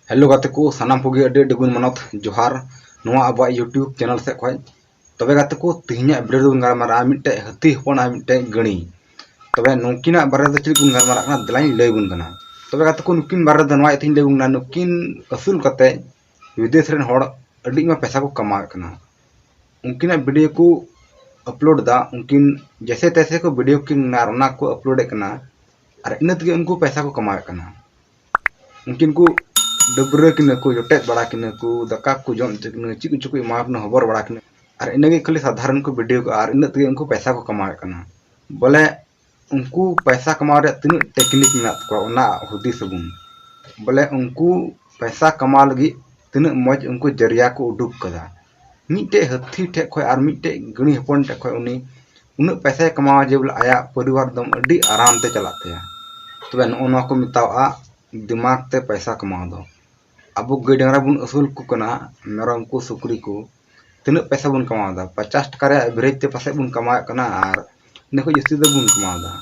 hello ᱜᱟᱛᱮ ᱠᱚ ᱥᱟᱱᱟᱢ ᱠᱚᱜᱮ ᱟᱹᱰᱤ ᱟᱹᱰᱤ ᱜᱩᱱ ᱢᱟᱱᱚᱛ ᱡᱚᱦᱟᱨ ᱱᱚᱣᱟ ᱟᱵᱚᱣᱟᱜ ᱤᱭᱩᱴᱤᱭᱩᱵᱽ ᱪᱮᱱᱮᱞ ᱥᱮᱫ ᱠᱷᱚᱱ ᱛᱚᱵᱮ ᱜᱟᱛᱮ ᱠᱚ ᱛᱮᱦᱮᱧᱟᱜ ᱵᱷᱤᱰᱤᱭᱳ ᱫᱚᱵᱚᱱ ᱜᱟᱞᱢᱟᱨᱟᱜᱼᱟ ᱢᱤᱫᱴᱮᱡ ᱦᱟᱹᱛᱤ ᱦᱚᱯᱚᱱ ᱟᱨ ᱢᱤᱫᱴᱮᱡ ᱜᱟᱹᱲᱤ ᱛᱚᱵᱮ ᱱᱩᱠᱤᱱᱟᱜ ᱵᱟᱨᱮ ᱫᱚ ᱪᱮᱫ ᱵᱚᱱ ᱜᱟᱞᱢᱟᱨᱟᱜ ᱠᱟᱱᱟ ᱫᱮᱞᱟᱧ ᱞᱟᱹᱭ ᱵᱚᱱ ᱠᱟᱱᱟ ᱛᱚᱵᱮ ᱜᱟᱛᱮ ᱠᱚ ᱱᱩᱠᱤᱱ ᱵᱟᱨᱮ ᱫᱚ ᱱᱚᱣᱟ ᱤᱭᱟᱹᱛᱮᱧ ᱞᱟᱹᱭ ᱵᱚᱱ ᱠᱟᱱᱟ ᱱᱩᱠᱤᱱ ᱟᱹᱥᱩᱞ ᱠᱟᱛᱮ ᱵᱤᱫᱮᱥ ᱨᱮᱱ ᱦᱚᱲ ᱟᱹᱰᱤ ᱢᱟ ᱯᱮᱥᱟ ᱠᱚ ᱠᱟᱢᱟᱣᱮᱫ ᱠᱟᱱᱟ ᱩᱱᱠᱤᱱᱟᱜ ᱵᱷᱤᱰᱤᱭᱳ ᱠᱚ ᱟᱯᱞᱳᱰ ᱫᱟ ᱩᱱᱠᱤᱱ ᱡᱮᱥᱮ ᱛᱮᱥᱮ ᱠᱚ ᱵᱷᱤᱰᱤᱭᱳ ᱠᱤᱱ ᱚᱱᱟ ᱠᱚ ᱟᱯᱞᱳᱰᱮᱫ ᱠᱟᱱᱟ ᱟᱨ ᱤᱱᱟᱹ ᱛᱮᱜᱮ ᱩᱱᱠᱩ ᱯᱮᱥᱟ ᱠᱚ ᱠᱟᱢᱟᱣᱮᱫ ᱠᱟᱱᱟ ᱩᱱᱠᱤᱱ ᱠᱚ ᱰᱟᱹᱵᱽᱨᱟᱹ ᱠᱤᱱᱟᱹ ᱠᱚ ᱡᱚᱴᱮᱫ ᱵᱟᱲᱟ ᱠᱤᱱᱟᱹ ᱠᱚ ᱫᱟᱠᱟ ᱠᱚ ᱡᱚᱢ ᱦᱚᱪᱚ ᱠᱤᱱᱟᱹ ᱪᱮᱫ ᱠᱚᱪᱚ ᱠᱚ ᱮᱢᱟ ᱠᱤᱱᱟᱹ ᱦᱚᱵᱚᱨ ᱵᱟᱲᱟ ᱠᱤᱱᱟᱹ ᱟᱨ ᱤᱱᱟᱹ ᱜᱮ ᱠᱷᱟᱹᱞᱤ ᱥᱟᱫᱷᱟᱨᱚᱱ ᱠᱚ ᱵᱷᱤᱰᱤᱭᱳ ᱠᱚ ᱟᱨ ᱤᱱᱟᱹᱜ ᱛᱮᱜᱮ ᱩᱱᱠᱩ ᱯᱚᱭᱥᱟ ᱠᱚ ᱠᱟᱢᱟᱣᱮᱫ ᱠᱟᱱᱟ ᱵᱚᱞᱮ ᱩᱱᱠᱩ ᱯᱚᱭᱥᱟ ᱠᱟᱢᱟᱣ ᱨᱮᱭᱟᱜ ᱛᱤᱱᱟᱹᱜ ᱴᱮᱠᱱᱤᱠ ᱢᱮᱱᱟᱜ ᱛᱟᱠᱚᱣᱟ ᱚᱱᱟ ᱦᱩᱫᱤᱥ ᱟᱵᱚᱱ ᱵᱚᱞᱮ ᱩᱱᱠᱩ ᱯᱚᱭᱥᱟ ᱠᱟᱢᱟᱣ ᱞᱟᱹᱜᱤᱫ ᱛᱤᱱᱟᱹᱜ ᱢᱚᱡᱽ ᱩᱱᱠᱩ ᱡᱟᱹᱨᱤᱭᱟ ᱠᱚ ᱩᱰᱩᱠ ᱠᱟᱫᱟ ᱢᱤᱫᱴᱮᱡ ᱦᱟᱹᱛᱤ ᱴᱷᱮᱡ ᱠᱷᱚᱡ ᱟᱨ ᱢᱤᱫᱴᱮᱡ ᱜᱟᱹᱲᱤ ᱦᱚᱯᱚᱱ ᱴᱷᱮᱡ ᱠᱷᱚᱡ ᱩᱱᱤ ᱩᱱᱟᱹᱜ ᱯᱚᱭᱥᱟᱭ ᱠᱟᱢᱟᱣᱟ ᱡᱮ ᱵᱚᱞᱮ ᱟᱭᱟᱜ ᱯᱚᱨᱤᱵᱟᱨ ᱫᱚ ᱟᱹᱰᱤ ᱟᱨᱟᱢ ᱛᱮ ᱪᱟᱞᱟᱜ ᱛᱟᱭᱟ ᱛᱚᱵᱮ ᱱᱚᱜᱼᱚ ᱱᱚᱣᱟ ᱠᱚ ᱢᱮᱛᱟᱣᱟᱜᱼᱟ ᱫᱤᱢᱟᱜᱽ ᱛᱮ ᱯᱚᱭᱥᱟ ᱠᱟᱢᱟᱣ ᱫᱚ ᱟᱵᱚ ᱜᱟᱹᱭ ᱰᱟᱝᱨᱟ ᱵᱚᱱ ᱟᱹᱥᱩᱞ ᱠᱚ ᱠᱟᱱᱟ ᱢᱮᱨᱚᱢ ᱠᱚ ᱥᱩᱠᱨᱤ ᱠᱚ ᱛᱤᱱᱟᱹᱜ ᱯᱚᱭᱥᱟ ᱵᱚᱱ ᱠᱟᱢᱟᱣᱫᱟ ᱯᱚᱪᱟᱥ ᱴᱟᱠᱟ ᱨᱮᱭᱟᱜ ᱮᱵᱷᱨᱮᱡᱽ ᱛᱮ ᱯᱟᱥᱮᱡ ᱵᱚᱱ ᱠᱟᱢᱟᱣᱮᱫ ᱠᱟᱱᱟ ᱟᱨ ᱤᱱᱟᱹ ᱠᱷᱚᱱ ᱡᱟᱹᱥᱛᱤ ᱫᱚ ᱵᱟᱵᱚᱱ ᱠᱟᱢᱟᱣ ᱮᱫᱟ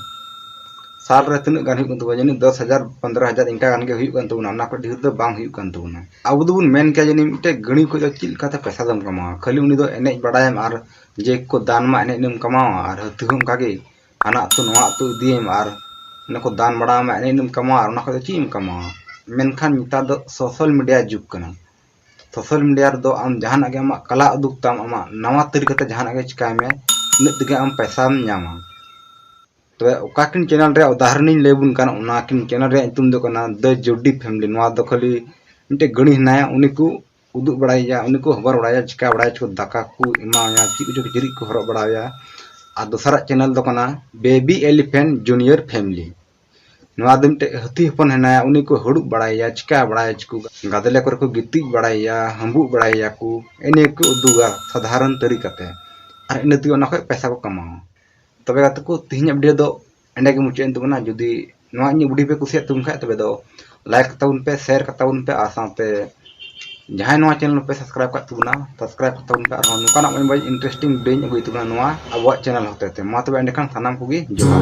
ᱥᱟᱞ ᱨᱮ ᱛᱤᱱᱟᱹᱜ ᱜᱟᱱ ᱦᱩᱭᱩᱜ ᱠᱟᱱ ᱛᱟᱵᱚᱱᱟ ᱡᱟᱹᱱᱤᱡ ᱫᱚᱥ ᱦᱟᱡᱟᱨ ᱯᱚᱱᱫᱽᱨᱚ ᱦᱟᱡᱟᱨ ᱤᱱᱠᱟ ᱜᱟᱱ ᱜᱮ ᱦᱩᱭᱩᱜ ᱠᱟᱱ ᱛᱟᱵᱚᱱᱟ ᱚᱱᱟ ᱠᱷᱚᱱ ᱰᱷᱮᱨ ᱫᱚ ᱵᱟᱝ ᱦᱩᱭᱩᱜ ᱠᱟᱱ ᱛᱟᱵᱚᱱᱟ ᱟᱵᱚ ᱫᱚᱵᱚᱱ ᱢᱮᱱ ᱠᱮᱭᱟ ᱡᱟᱹᱱᱤᱡ ᱢᱤᱫᱴᱮᱡ ᱜᱟᱹᱲᱤ ᱠᱷᱚᱱ ᱫᱚ ᱪᱮᱫ ᱞᱮᱠᱟᱛᱮ ᱯᱚᱭᱥᱟ ᱫᱚᱢ ᱠᱟᱢᱟᱣᱟ ᱠᱷᱟᱹᱞᱤ ᱩᱱᱤ ᱫᱚ ᱮᱱᱮᱡ ᱵᱟᱲᱟᱭᱟᱢ ᱟᱨ ᱡᱮ ᱠᱚ ᱫᱟᱱ ᱢᱟ ᱮᱱᱮᱡ ᱮᱱᱮᱢ ᱠᱟᱢᱟᱣᱟ ᱟᱨ ᱦᱟᱹᱛᱤ ᱦᱚᱸ ᱚᱱᱠᱟ ᱜᱮ ᱦᱟᱱᱟ ᱟᱹᱛᱩ ᱱᱚᱣᱟ ᱟᱹᱛᱩ ᱤᱫᱤᱭᱮᱢ ᱟᱨ ᱚᱱᱟ ᱠᱚ ᱫᱟᱱ ᱵᱟᱲᱟᱣᱟᱢᱟ ᱮᱱᱮᱡ ᱮᱱᱮᱢ ᱠᱟᱢᱟᱣᱟ ᱟᱨ ᱚᱱᱟ ᱠᱷᱚᱱ ᱫᱚ ᱪᱮᱫ ᱮᱢ ᱠᱟᱢᱟᱣᱟ ᱢᱮᱱᱠᱷᱟᱱ ᱱᱮᱛᱟᱨ ᱫᱚ ᱥᱳᱥᱟᱞ ᱢᱤᱰᱤᱭᱟ ᱡᱩᱜᱽ ᱠᱟᱱᱟ ᱥᱳᱥᱟᱞ ᱢᱤᱰᱤᱭᱟ ᱨᱮᱫᱚ ᱟᱢ ᱡᱟᱦᱟᱱᱟᱜ ᱜᱮ ᱟᱢᱟᱜ ᱠᱟᱞᱟ ᱩᱫᱩᱜ ᱛᱟᱢ ᱟᱢᱟᱜ ᱱᱟᱣᱟ ᱛᱟᱹᱨᱤᱠᱟᱛᱮ ᱡᱟᱦᱟᱱᱟᱜ ᱜᱮ ᱪᱤᱠᱟᱭ ᱢᱮ ᱤᱱᱟᱹᱜ ᱛᱮᱜᱮ ᱟᱢ ᱯᱚᱭᱥᱟᱢ ᱧᱟᱢᱟ ᱛᱚᱵᱮ ᱚᱠᱟ ᱠᱤᱱ ᱪᱮᱱᱮᱞ ᱨᱮᱭᱟᱜ ᱩᱫᱟᱦᱚᱨᱚᱱᱤᱧ ᱞᱟᱹᱭ ᱵᱚᱱ ᱠᱟᱱᱟ ᱚᱱᱟ ᱠᱤᱱ ᱪᱮᱱᱮᱞ ᱨᱮᱭᱟᱜ ᱧᱩᱛᱩᱢ ᱫᱚ ᱠᱟᱱᱟ ᱫᱟ ᱡᱳᱰᱤ ᱯᱷᱮᱢᱞᱤ ᱱᱚᱣᱟ ᱫᱚ ᱠᱷᱟᱹᱞᱤ ᱢᱤᱫᱴᱮᱡ ᱜᱟᱹᱲᱤ ᱦᱮᱱᱟᱭᱟ ᱩᱱᱤ ᱠᱚ ᱩᱫᱩᱜ ᱵᱟᱲᱟᱭᱮᱭᱟ ᱩᱱᱤ ᱠᱚ ᱦᱚᱵᱚᱨ ᱵᱟᱲᱟᱭᱟ ᱪᱤᱠᱟ ᱵᱟᱲᱟᱭᱟ ᱪᱚ ᱫᱟᱠᱟ ᱠᱚ ᱮᱢᱟᱣᱟᱭᱟ ᱪᱮᱫ ᱠᱚᱪᱚ ᱠᱤᱪᱨᱤᱡ ᱠᱚ ᱦᱚᱨᱚᱜ ᱵᱟᱲᱟᱣᱟᱭᱟ ᱟᱨ ᱫᱚᱥᱟᱨᱟᱜ ᱪᱮᱱᱮᱞ ᱫᱚ ᱠᱟᱱᱟ ᱵᱮᱵᱤ ᱮᱞᱤᱯᱷᱮᱱᱴ ᱡᱩᱱᱤᱭᱚᱨ ᱯᱷᱮᱢᱞᱤ ᱱᱚᱣᱟ ᱫᱚ ᱢᱤᱫᱴᱮᱡ ᱦᱟᱹᱛᱤ ᱦᱚᱯᱚᱱ ᱦᱮᱱᱟᱭᱟ ᱩᱱᱤ ᱠᱚ ᱦᱩᱲᱩᱵ ᱵᱟᱲᱟᱭᱮᱭᱟ ᱪᱤᱠᱟ ᱵᱟᱲᱟᱭᱟ ᱪᱤᱠᱩ ᱜᱟᱫᱮᱞᱮ ᱠᱚᱨᱮ ᱠᱚ ᱜᱤᱛᱤᱡ ᱵᱟᱲᱟᱭᱮᱭᱟ ᱦᱟᱹᱢᱵᱩᱜ ᱵᱟᱲᱟᱭᱮᱭᱟ ᱠᱚ ᱮᱱᱮ ᱠᱚ ᱩᱫᱩᱜᱟ ᱥᱟᱫᱷᱟᱨᱚᱱ ᱛᱟᱹᱨᱤᱠᱟᱛᱮ ᱟᱨ ᱤᱱᱟᱹ ᱛᱮᱜᱮ ᱚᱱᱟ ᱠᱷᱚᱡ ᱯᱚᱭᱥᱟ ᱠᱚ ᱠᱟᱢᱟᱣᱟ ᱛᱚᱵᱮ ᱜᱟᱛᱮ ᱠᱚ ᱛᱮᱦᱮᱧᱟᱜ ᱵᱷᱤᱰᱤᱭᱳ ᱫᱚ ᱮᱸᱰᱮ ᱜᱮ ᱢᱩᱪᱟᱹᱫ ᱮᱱ ᱛᱟᱵᱚᱱᱟ ᱡᱩᱫᱤ ᱱᱚᱣᱟ ᱤᱧᱟᱹᱜ ᱵᱷᱤᱰᱤᱭᱳ ᱯᱮ ᱠᱩᱥᱤᱭᱟᱜ ᱛᱟᱵᱚᱱ ᱠᱷᱟᱡ ᱛᱚᱵᱮ ᱫᱚ ᱞᱟᱭᱤᱠ ᱛᱟᱵᱚᱱ ᱯᱮ ᱥᱮᱭᱟᱨ ᱠᱟᱛᱟᱵᱚᱱ ᱯᱮ ᱟᱨ ᱥᱟᱶᱛᱮ ᱡᱟᱦᱟᱸᱭ ᱱᱚᱣᱟ ᱪᱮᱱᱮᱞ ᱯᱮ ᱥᱟᱵᱥᱠᱨᱟᱭᱤᱵ ᱠᱟᱜ ᱛᱟᱵᱚᱱᱟ ᱥᱟᱵᱥᱠᱨᱟᱭᱤᱵ ᱠᱟᱛᱟᱵᱚᱱ ᱯᱮ ᱟᱨᱦᱚᱸ ᱱᱚᱝᱠᱟᱱᱟᱜ ᱢᱚᱡᱽ ᱢᱚᱡᱽ ᱤᱱᱴᱟᱨᱮᱥᱴᱤᱝ ᱵᱤᱰᱤᱭᱳᱧ ᱟᱹᱜᱩᱭ ᱛᱟᱵᱚᱱᱟ ᱱᱚᱣᱟ ᱟᱵᱚᱣᱟᱜ ᱪᱮᱱᱮᱞ ᱦᱚᱛᱮ ᱛᱮ ᱢᱟ ᱛᱚᱵᱮ ᱮᱸᱰᱮᱠᱷᱟᱱ ᱥᱟᱱᱟᱢ ᱠᱚᱜᱮ ᱡᱚᱦᱟᱨ